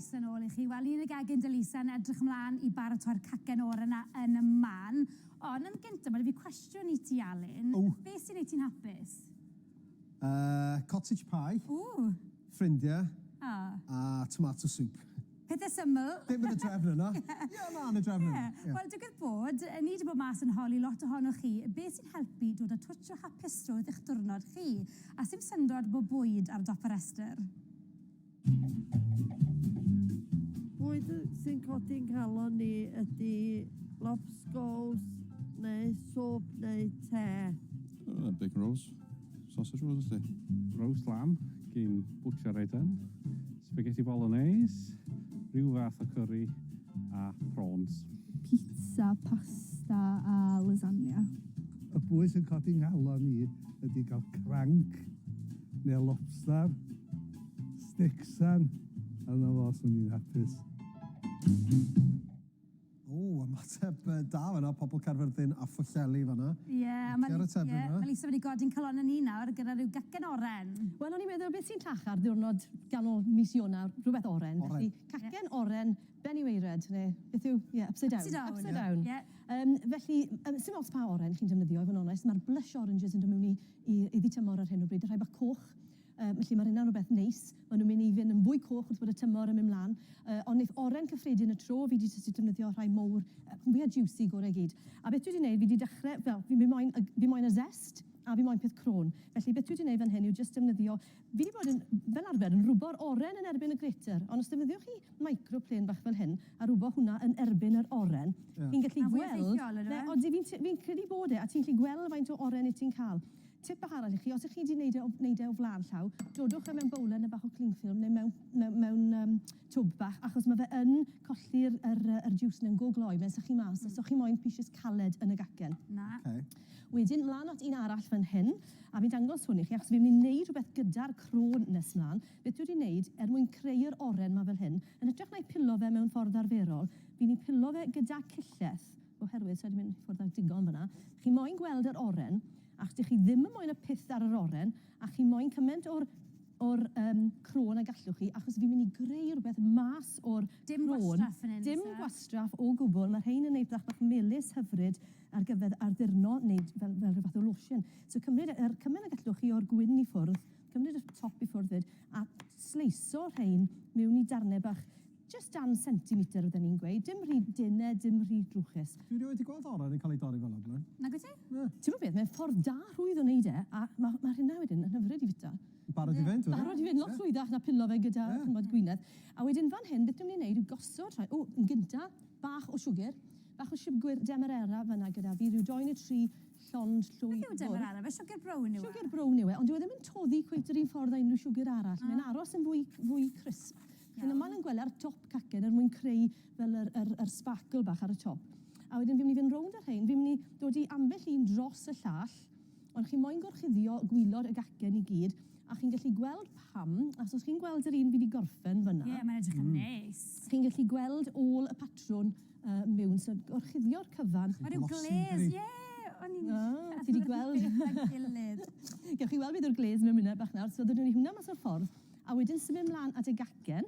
Croeso yn ôl i chi. Wel, un y gegin Delisa yn edrych ymlaen i baratoi'r cacen oer yna yn y man. Ond yn gyntaf, mae 'da fi cwestiwn i ti, Alun. O! Beth sy'n neud ti'n hapus? Yy, cottage pie. Ww! Ffrindiau. O! A tomato soup. Pethe syml. Ddim yn y drefn yna. Ie, na, yn y drefn yna. Ie. Wel, digwydd bod, ni 'di bod mas yn holi lot ohonoch chi, beth sy'n helpu dod â twtsh o hapusrwydd i'ch diwrnod chi, a sdim syndod bod bwyd ar dop y rhestr. Bwyd sy'n codi 'nghalon ni ydi lobsgows neu swp neu te. Bacon rolls. Sausage rolls felly. Roast lamb gin Butcher Eden, spaghetti bolognese, rhyw fath o curry a prawns. Pizza, pasta a lasagna. Y bwys sy'n codi nghalon i ydy cael cranc neu lobster, sticks and yna fo, swn i'n hapus. Ww, ymateb da fanna, pobl Caerfyrddin a Phwllheli fanna. Ie, ma' Li-... Licio yr ateb fanna. Ie, ma' Lisa wedi godi'n calonnau ni nawr gyda rhyw gacen oren. Wel, o'n i'n meddwl, beth sy'n llachar, diwrnod ganol mis Ionawr, rhywbeth oren. Oren. Felly, cacen oren, Ben y Waered, neu beth yw, ie, upside down. Upside down. Upside down. Ie. Yym, felly, yym, sdim ots pa oren chi'n defnyddio, i fod yn onest, ma'r blush oranges yn dod miwn i i i dŷ tymor ar hyn o bryd, y rhai bach coch. Felly mae'r hynna'n rhywbeth neis. Maen nhw'n mynd i fynd yn fwy coch wrth bod y tymor yn mynd mlan. Yy ond neith oren cyffredin y tro, fi 'di jyst 'di defnyddio rhai mowr, yy rhan fwya jiwsi gore i gyd. A beth dwi 'di neud, fi 'di dechre, wel, fi fi moyn y g- fi moyn y zest a fi moyn peth crôn. Felly beth dwi 'di neud fan hyn yw jyst defnyddio, fi 'di bod yn, fel arfer, yn rwbo'r oren yn erbyn y grater, ond os defnyddiwch chi micro plane bach fel hyn a rwbo hwnna yn erbyn yr oren, chi'n gallu gweld... Ma'n fwy effeithiol, yndyw e? Odi, fi'n t- fi'n credu bod e, a ti'n gallu gweld faint o oren 'yt ti'n ca'l. Tip bach arall i chi, os ych chi wedi wneud e o wneud e o flaen llaw, dodwch e mewn bowlen neu bach o cling film neu mewn mewn mewn yym twb bach achos ma' fe yn colli'r yr yy yr jiws 'na'n go gloi, fe'n sychu mas os o'ch chi moyn pishas caled yn y gacen. Na. Oce. Wedyn mlan at un arall fan hyn, a fi'n dangos hwn i chi achos fi myn' i neud rwbeth gyda'r cro nes mlan, beth dwi wedi neud er mwyn creu'r oren 'ma fel hyn, yn hytrach na'i pilo fe mewn ffordd arferol, fi'n 'i pilo fe gyda cillell, Oherwydd, sa i 'di mynd i ffwrdd â digon fan'na, chi moyn gweld yr oren, ac dych chi ddim yn moyn y pysth ar yr oren, a chi moyn cyment o'r o'r yym crôn a gallwch chi, achos fi'n mynd i greu rhywbeth mas o'r crôn. Dim gwastraff fan hyn, oes e? Dim gwastraff o gwbl, ma' rhein yn edrach bach melys hyfryd ar gyfer addurno, neu fel fel rhyw fath o lotion. So cymryd yr cyment ag allwch chi o'r gwin i ffwrdd, cymryd y top i ffwrdd 'fyd, a sleisio rhein miwn i darne bach Jyst dan sentimeter fydden i'n gweud, dim rhy dynn a dim rhy drwchus. Dwi rioed 'di gweld oren yn cael ei dorri fel 'na o'r blaen. Nag wyt ti? Na. Ti'mod beth, mae'n ffordd da rhwydd o wneud e, a ma' ma' rheina wedyn yn hyfryd i fwyta. Barod i fynd wedyn. Barod i fynd, lot rhwyddach na pilo fe gyda ch'mbod gwinedd. A wedyn fan hyn, beth dwi myn' i neud yw gosod rhai, o, yn gynta, bach o siwgr, bach o siwgr demerara fan 'na gyda fi, ryw dou neu tri llond llwy fwrw. Beth yw demerara? Fe siwgr brown yw e? Siwgr brown yw e, ond dyw e ddim yn toddi cweit yr un ffordd â unrhyw siwgr arall. Mae'n aros yn fwy fwy crisp. Chi'n aml yn gweld e ar dop cacen er mwyn creu fel yr, yr, yr sparkle bach ar y top. A wedyn fi'n mynd i fynd rownd â rhein, fi'n mynd i dod i ambell un dros y llall, ond chi moyn gorchuddio gwilod y gacen i gyd, a chi'n gallu gweld pam, achos os chi'n gweld yr un fi 'di gorffen fan'na... Ie, mae'n edrych yn neis. ...chi'n gallu gweld ôl y patrwn yy miwn, so gorchuddio'r cyfan... Ma' ryw glês, ie! O'n i'n... O, ti 'di gweld? ...Gyda gilydd. Gewch chi weld beth yw'r glês mewn munud bach nawr, so ddedwn ni hwnna mas o'r ffordd. A wedyn symud mlan at y gacen.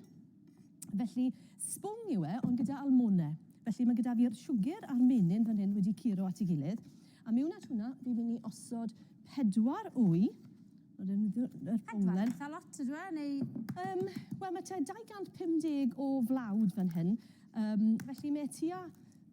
Felly, sbwng yw e, ond gyda almone. Felly, mae gyda fi'r siwgr a'r menyn fan hyn wedi curo at ei gilydd. A mewn at hwnna, fi'n mynd i osod pedwar wy. Pedwar? Eitha lot ydyw e, neu...? Yym, wel, mae tua 250 o flawd fan hyn. Yym, felly, mae e tua...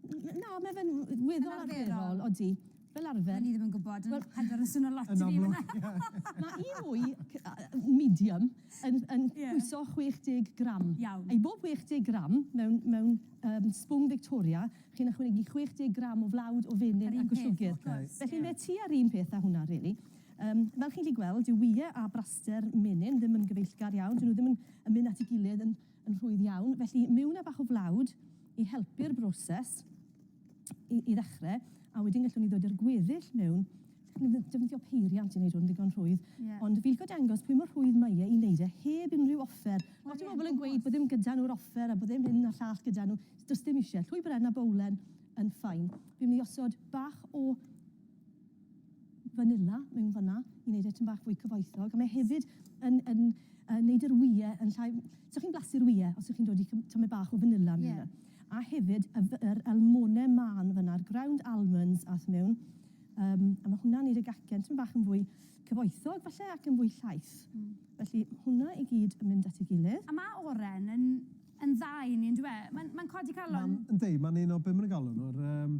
Na, mae fe'n weddol arferol, odi. Fel arfer... O'n i ddim yn gwybod, ond Pedwar yn swnio lot i fi fan'na! Yn amlwg. Mae un mwy yy medium yn yn pwyso 60 gram. Iawn. I bob 60 gram mewn mewn yym sbwng Victoria, chi'n ychwanegu 60 gram o flawd o fenyn... Yr un peth. ...ac o siwgr. Wrth gwrs. Felly mae tua'r un peth â hwnna rili. Yym, fel chi'n gallu gweld, dyw wye a braster menyn ddim yn gyfeillgar iawn, 'dyn nhw ddim yn yn mynd at 'i gilydd yn yn rhwydd iawn, felly miwn â bach o flawd i helpu'r broses. i, i ddechrau, a wedyn gallwn ni ddod i'r gweddill mewn defnyddio peiriant i wneud hwn ddigon rhwydd. Yeah. Ond fi'n licio dangos pwy mor rhwydd mae e i wneud e heb unrhyw offer. Lot o bobl yn gweud bod ddim gyda nhw'r offer a bod ddim hyn a llall gyda nhw. Does dim eisiau. Llwy bren a bowlen yn ffain. Fi'n mynd i osod bach o fanila mewn fan'na i wneud e tyn bach fwy cyfoethog, a mae hefyd yn yn yn wneud yr wyau yn llai... So chi'n blasu'r wyau os ydych chi'n dod i tamaid bach o fanila mewn yeah. A hefyd y yr almonau mân fan'na, yr ground almonds ath mewn, um, a mae hwnna'n wneud y gacen tyn bach yn fwy cyfoethog falle ac yn fwy llaith. Mm. Felly hwnna i gyd yn mynd at ei gilydd. A mae oren yn yn dda i ni, yn dwi e? Mae'n mae codi calon. Mae'n yndi, mae'n un o bum yn y galon o'r... Um,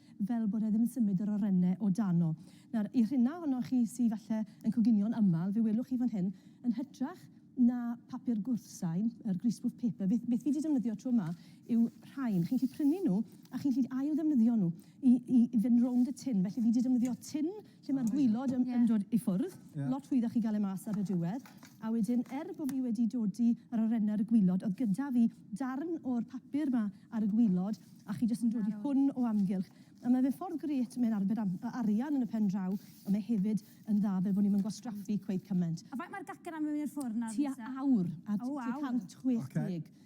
fel bod e ddim yn symud yr orene o dano. Nawr, i'r rhina ohonoch chi sy falle yn coginio'n aml, fe welwch chi fan hyn, yn hytrach na papur gwrthsain, yr greaseproof paper, beth, beth fi 'di defnyddio tro yma yw rhain. Chi'n gallu prynu nhw a chi'n gallu ail-ddefnyddio nhw i, i fynd rownd y tin. Felly fi 'di defnyddio tin Lle mae'r gwaelod yn yn dod i ffwrdd. Ie. Lot hwyddach i ga'l e mas ar y diwedd. A wedyn er bo' fi wedi dodi yr awyren ar y gwaelod o'dd gyda fi darn o'r papur 'ma ar y gwaelod a chi jyst yn dodi hwn o amgylch. A ma' fe'n ffordd grêt, mae'n arbed am- yy arian yn y pen draw on' mae hefyd yn dda fel bo' ni'm yn gwastraffu cweit cyment. A faint ma'r gacen am mewn i'r ffwrn nawr te? Tua awr a... O waw. ...tua cant chwech deg. Oce.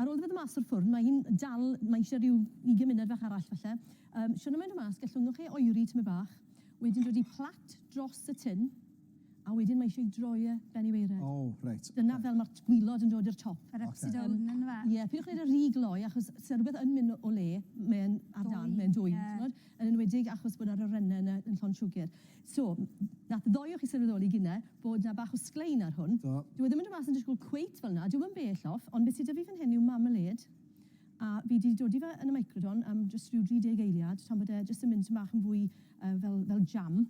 Ar ôl iddo fe ddod mas o'r ffwrn, mae hi'n dal, mae eisiau rhyw ugain munud fach arall falle. Yym, siwrna mae'n dod mas, gallwnwch e oeri tymed bach, wedyn dod i plat dros y tin, a wedyn mae eisiau droi e ben i waered. O, reit. Dyna fel mae'r t- gwilod yn dod i'r top. Yr upside down yn dyfe? Ie, peidiwch wneud e rhy gloi, achos os yw rhywbeth yn mynd o le, mae'n ar dân, mae'n dwym, timod? Yn enwedig achos bod yr awyren yn llond siwgr. So, nath ddoe o chi sylweddoli gine bod 'na bach o sglein ar hwn. Do. Dyw e ddim yn dod mas yn disgwyl cweit fel 'na, dyw e ddim yn bell off, ond be' sy 'da fi fan hyn yw marmalade, a fi 'di dodi fe yn y microdon am jyst rhyw 30 eiliad tan bod e jyst yn mynd tym' bach yn fwy yy fel fel jam,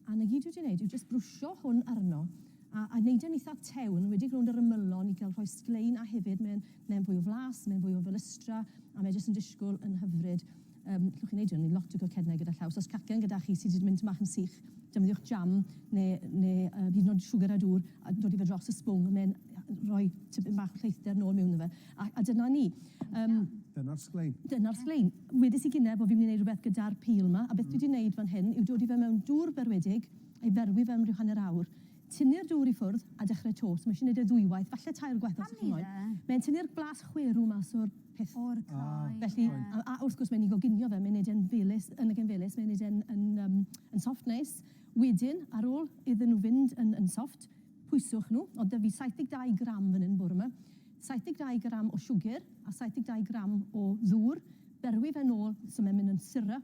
a 'na gyd dwi 'di neud yw jyst brwsio hwn arno, a a neud e'n itha tew, yn enwedig rownd yr ymylon i ga'l rhoi sglein, a hefyd mae'n mae'n fwy o flas, mae'n fwy o felystra, a mae jyst yn disgwl yn hyfryd. Yym, llwch chi'n neud hyn, ni lot o croceddnau gyda llaw, so os cacen gyda chi sy 'di mynd tymach yn sych, defnyddiwch jam ne' ne' yy hyd yn o'd siwgr a dŵr a dodi fe dros y sbwng, mae'n rhoi tipyn bach o lleithder nôl miwn 'no fe. A a dyna ni. Yym. Dyna'r sglein. Dyna'r sglein. Wedes i gynne bo' fi myn' i neud rwbeth gyda'r pil 'ma, a beth dwi 'di neud fan hyn yw dodi fe mewn dŵr berwedig, a'i ferwi fe am ryw hanner awr. Tynnu'r dŵr i ffwrdd a dechrau 'to. So mae eisiau wneud e ddwywaith, falle tair gwaith os chi'n moyn. Mae'n tynnu'r blas chwerw mas o'r peth. O'r cae. Felly, a wrth gwrs mae'n ei goginio fe, mae'n wneud e'n felys, yn y gêm felys, mae'n wneud e'n yn yym yn soft neis. Wedyn, ar ôl iddyn nhw fynd yn yn soft, pwyswch nhw. Oedd 'da fi 72 gram fan hyn bore 'ma. 72 gram o siwgr a 72 gram o ddŵr. Berwi fe nôl, so mae'n mynd yn syrup.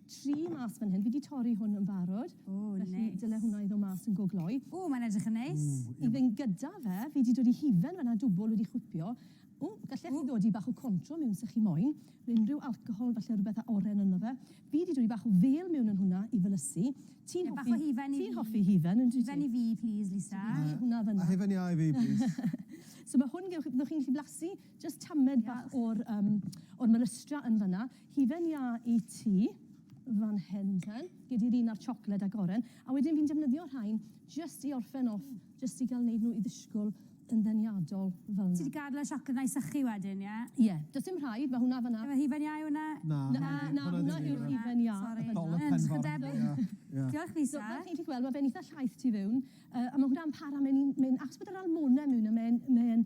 tri mas fan hyn. Fi 'di torri hwn yn barod. O, neis. Felly, dyle hwnna i ddod mas yn go gloi. O, mae'n edrych yn neis. Ww. I fynd gyda fe, fi 'di dod i hufen fan'na, dwbwl wedi chwipio. Ww, gallech chi ddodi bach o contro miwn 'se chi moyn, neu unrhyw alcohol falle, rwbeth â oren ynddo fe. Fi 'di dodi bach o fêl miwn yn hwnna i felysu. Ti'n hoffi... Ie, bach o hufen i fi. Ti'n hoffi hufen, yndwyt ti? Hufen i fi, plîs, Lisa. So, fi 'di hwnna fan'na. A hufen iau i fi, plîs. So, ma' hwn, gewch, fyddwch chi'n gallu blasu jyst tamed bach... Diolch. ...o'r, yym, o'r melystra yn fan'na. Hufen iâ i ti fan hyn te. Gei di'r un â'r siocled ag oren. A wedyn fi'n defnyddio rhain jyst i orffen off, jyst i ga'l neud nhw i ddisgwl yn ddeniadol fel 'na. Ti 'di gadel y siocled 'na i sychu wedyn, ie? Ie. Does dim rhaid, ma' hwnna fan 'na. Ife hufen iâ yw hwnna? Na. Na, na, hwnna yw'r hufen iâ. Sori. Dolydd penfro. Diolch Lisa. So fel chi'n gallu gweld ma' fe'n itha llaith tu fewn yy a ma' hwnna'n para mae'n un mae'n achos bod yr almone mewn a mae'n mae'n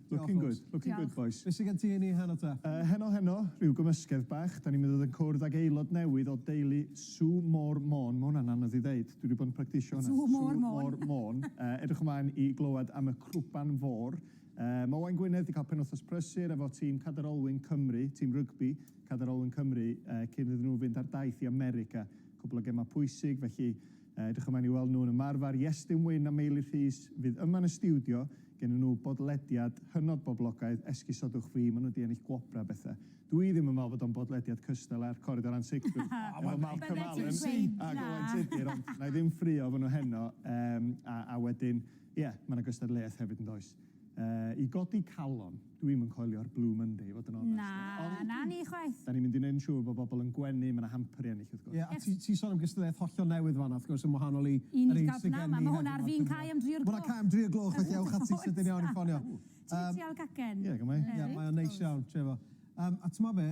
Looking good, looking good bois. Diolch. Be sy gen ti i ni heno ta? Yy heno heno, rhyw gymysgedd bach, 'dan ni'n mynd i fod yn cwrdd ag aelod newydd o deulu Sue Moore Môn, ma' hwnna'n anodd i ddeud, dwi 'di bod yn practisio hwnna. Sue Moore Môn. Sue Moore Môn, yy edrych ymlaen i glywed am y Crwban Fôr. Yy ma' Owain Gwynedd 'di ca'l penwthnos prysur efo tîm Cadair Olwyn Cymru, tîm rygbi Cadair Olwyn Cymru yy cyn iddyn nhw fynd ar daith i America, cwpwl o gema pwysig felly Edrych ymlaen i weld nhw'n ymarfer Iestyn Wyn a Meili Rhys fydd yma yn y stiwdio, gennyn nhw bodlediad hynod boblogaidd, esgusodwch fi, maen nhw 'di ennill gwobrau a bethau. Dw i ddim yn meddwl bod o'n bodlediad cystal â'r Coridor Ansicrwydd efo Malcolm Allen ac Owain Tudur, ond wna i ddim ffraeo efo nhw heno. Yym a a wedyn, ie, mae 'na gystadleuaeth hefyd yn does? Yy, i godi calon. Dw i'm yn coelio'r Blue Monday i fod yn onest. Na, na ni chwaith. Dan ni'n mynd i wneud yn siŵr bod bobl yn gwenu, mae 'na hamperi ennill wrth gwrs. Ie, a ti ti'n sôn am gystadleuaeth hollol newydd fan'na wrth gwrs yn wahanol i yr un sy' gen ni heddiw 'ma. Un sydd gafna, ma' hwn ar fin cau am dri o'r gloch. Ma' 'na cau am dri o'r gloch felly ewch ati sydyn iawn i ffonio. Ti'n mynd i trial cacen? Ie, go on 'mlaen. Ie, mae o'n neis iawn, trio fo. Yym, a t'mod be'?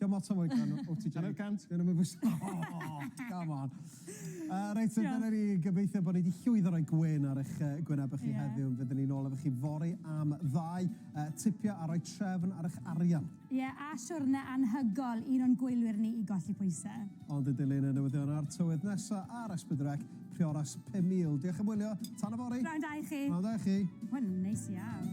Diom ots am oed gan OTJ. Hanner cant? Dyn nhw'm yn bwyso. Oh, come on. Uh, reit, so dyna ni. Gobeithio bod ni wedi llwyddo roi gwyn ar eich uh, gwynebau chi yeah. heddiw. Fydden ni'n ôl efo chi fori am ddau uh, tipio a roi trefn ar eich arian. Ie, yeah, a siwrne anhygol un o'n gwylwyr ni i golli pwysau. Ond y dilyn y newyddion a'r tywydd nesa ar Esbydwreck, Prioras 5000. Diolch am wylio, tan yfory! Pnawn da i chi! Pnawn da i chi! Wel, neis iawn.